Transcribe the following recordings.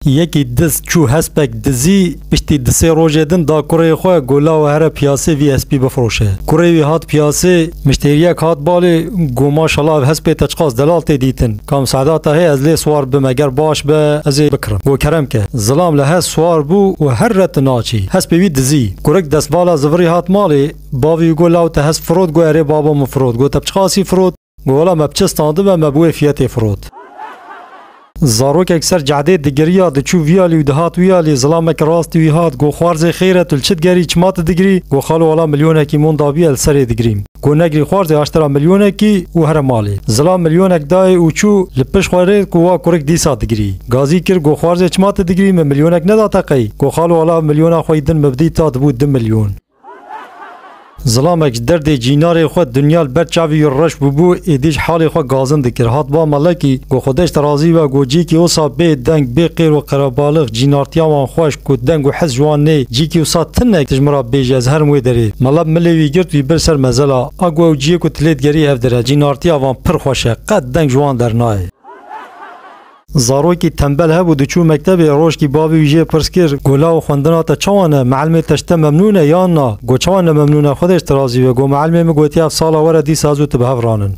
Yekî diz çû hespek dizî, piştî di sê rojê din da kurê xwe gola û here piyasê vî hespî bifiroşe. Kurê wî hat piyasê, miştêriyek hat balê, got maşala ev hespê te çiqas delal tê dîtin. Kam Seedata hê ez lê siwar bime ger baş be ez ê bikirim. Got kerem ke. Zilam li hez siwar bû û her re tu naçî. Hespê wî dizî. Kurik destvala zivirî hat malê, bavî wî got law te hesp firot, got erê babo min firot. Got te bi çiqasî firot? Gola me bi çi standibe me bi wê fiyetê firot. Zarokek ser cehdê digiriya diçû viyalî û dihat wiyalî, zilamek rastî wî hat, go xwarzê xêr e tu li çi digerî, çima tu digirî, go xalo wala milyonekî mon dabî ye li serê digirîm. Go negirî xwarzê aştira milyonekî û here malê. Zilam milyonek dayê û çû, li pişt xwe rê ku wa kurik dîsa digirî. Gazî kir, go xwarzê çima tu digirî, min milyonek neda te qey, go xalo wala milyona xwe yî din min bidî ta dibû du milyon. Zilamek ji derdê cînarê xwe dinya li ber çavê wî reş bûbû, êdî jî halê xwe gazin dikir. Hat ba melekî, got, Xwedeş te razî be, got, cîkî wisa bê deng, bê qêr û qerebalix, cînartiya wan xweş, got, deng û his ji wan nê, cîkî wisa tinek tu ji min re bêjî, ez herim wê derê. Melek milê wî girt, wî bir ser mezela. A ku ew ciyê ku tu lê digerî hev dir e, cînartiya van pir xweş e, qet deng ji wan dernayê. Zarokî tembel hebû diçû mektebê, roşkî bavê wî jê pirs kir, Go law xwendina te çawa ne? Mielmê te ji te memnûn e yan na? Go çawa ne memnûn e? Xwedê ji te razî be. Go mielmê min gotiye ev sala were dîsa ez û tu bi hev ranin.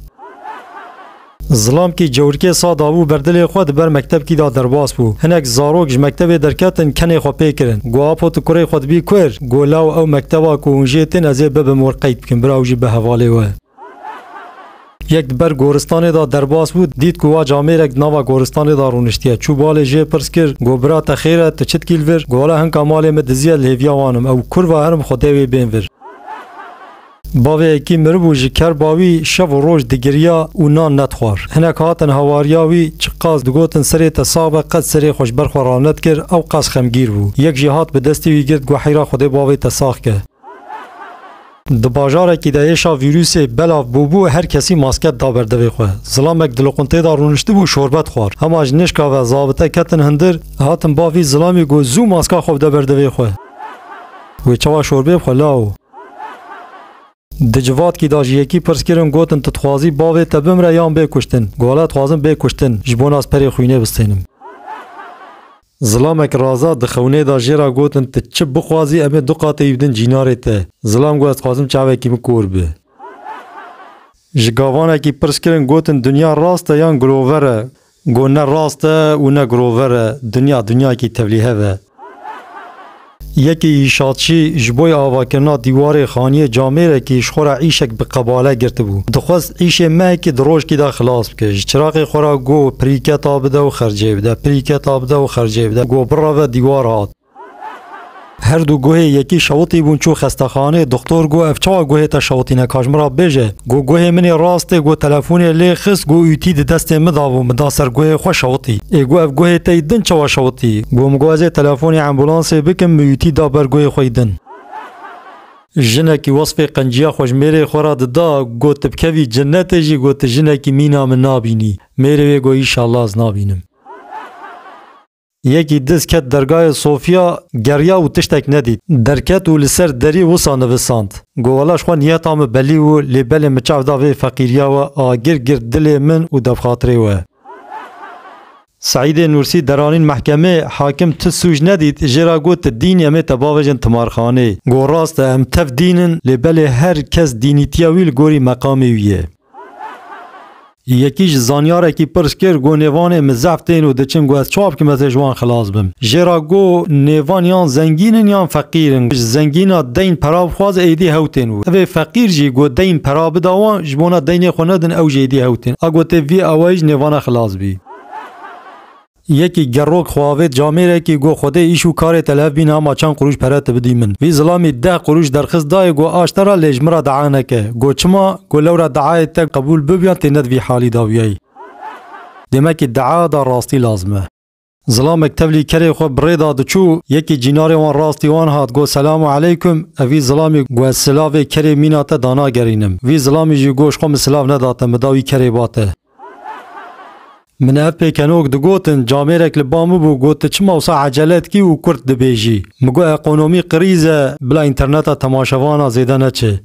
Zilam kî cewrikê sa dabû ber dilê xwe di ber mektebkî de derbas bû. Hinek zarok ji mektebê derketin kenê xwe pê kirin. Go Apo tu kurê xwe dibî kûr? Go law ew mekteba ku hûn jê tên ez ê bibim wir qeyd bikim bira ew jî bi hevalê we. Yek di ber goristanê de derbas bû, dît ku wa camêrek di nava goristanê de rûniştiye. Çû balê jê pirs kir, got, Bira te xêr e, tu çi dikî li vir? Got, Wele hinka malê min diziye li hêviya wan im, ew kurv e herim xwedê wê bên vir. Bavê yekî miribû ji ker ba wî şev û roj digiriya û nan nedixwar. Hinek hatin hawariya wî çiqas digotin serê te sax be qet serê xwe ji ber xwe ranedikir, ew qas xemgîr bû. Yek jî hat bi destê wî girt, got, Heyra xwedê bavê te sax ke. Di bajarekî de êşa vîrûsê belav bûbû, her kesî masket da ber devê xwe. Zilamek di loqinteyê de rûniştibû şorbet xwar. Hema ji nêşka ve zabite ketin hundir, hatin ba vî zilamî got zû maska xwe bide ber devê xwe. Wê çawa şorbê bixwe lawo. Di civatkî de ji yekî pirs kirin gotin tu dixwazî bavê te bimre yan bê kuştin. Got dixwazim bê kuştin, ji bo nas perê xwînê bistênim. Zilamek Raza di xewnê da jê ra gotin tu çi bixwazî em ê du qat êyî bidin cînarê te. Zilam got ez dixwazim çavekî min kor bi. Ji gavanekî pirs kirin gotin dinya rast e yan girover e? Got ne rast e û ne girover e, dinya dinyayekî tevlîhev e. Yekê Îşatçî ji bo yê avakirina dîwarê xaniyê camêrekî ji xwe re îşek bi qebale girtibû. Dixwest îşê mehekî di rojkî de xilas bike. Ji çiraqê xwe re got, Pirîketa bide û xercê bide, pirîketa bide û xercê bide. Got bireve dîwar hat. Her du guhê yekî şewitî bûn çû xestexanê. Doxtor got, Ev çawa guhê te şewitîne? Ka ji min re bêje. Got guhê min ê rast e, got telefonê lê xist, got ütî di destê min da bû, min da ser guhê xwe şewitî. Ê got ev guhê te yî din çawa şewitî? Got min got ez ê telefonê embûlansê bikim, min ütî da ber guhê xwe yî din. Jinekî wesfê qenciya xwe ji mêrê xwe re dida, got tu bi kevî cinetê jî, got tu jinekî mîna min nabînî. Mêrê wê got Înşallah ez nabînim. Yekî diz ket dergayê Sofya, geriya û tiştek nedît. Derket û li ser derî wisa nivisand, Gowela ji xwe niyeta min belî û lê belê min çav da vê feqîriya we a gir gir dilê min û devxatirê we. Seîdê Nûrsî deranîn mehkemê, hakim tu sûc nedît, jê re got tu dîn î em ê te bavêjin timarxanê. Got rast e em tev dîn in lê belê her kes dînîtiya wî li gorî meqamê wî ye. Yekî ji zanyarekî pirs kir, Got nêvanê min zehf tên û diçin ku ez çawa bikim ez ê ji wan xilas bim? Jê re got, Nêvan yan zengîn in yan feqîr in. Ji zengîn a deyn pera bixwaze êdî hew tên û divê feqîr jî ku deyn pera bida wan ji bona deynê xwe nedin ew jî êdî hew tên. A gotê vî awayî ji nêvana xilas bî. Yekî gerok xwe avêt camêrekî got Xwedê îş û karê te li hev bîne ama çend qurûş pere tu bidî min. Vî zilamî deh qurûş derxist dayê got Aş te re lê ji min re dea neke. Got Çima? Got Lewra deayê te qebûl bib yan tê ne di vî halî de bûyayî. Demekî dea da rastî lazim e. Zilamek tevlî kerê xwe bi rê da diçû, yekî cînarê wan rastî wan hat got Selam û Eleykum. Ev vî zilamî got Ez silavê kerê mîna te danagerînim. Vî zilamî jî got Ji xwe min silav nedate min da wî kerê ba te. Min ev pêkenok digotin, camêrek li ba min bû got tu çima wisa ecele dikî û kurt dibêjî. Min got ekonomî qirîz e, bila înterneta temaşevan a zêde neçe.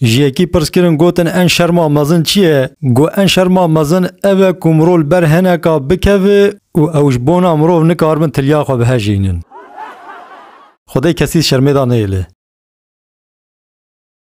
Ji yekî pirs kirin gotin en şerma mezin çi ye? Got en şerma mezin ev e ku mirov li ber hineka bikeve û ew ji bona mirov nikaribin tilya xwe bihejînin. Xwedê kesî şermê da nêlê.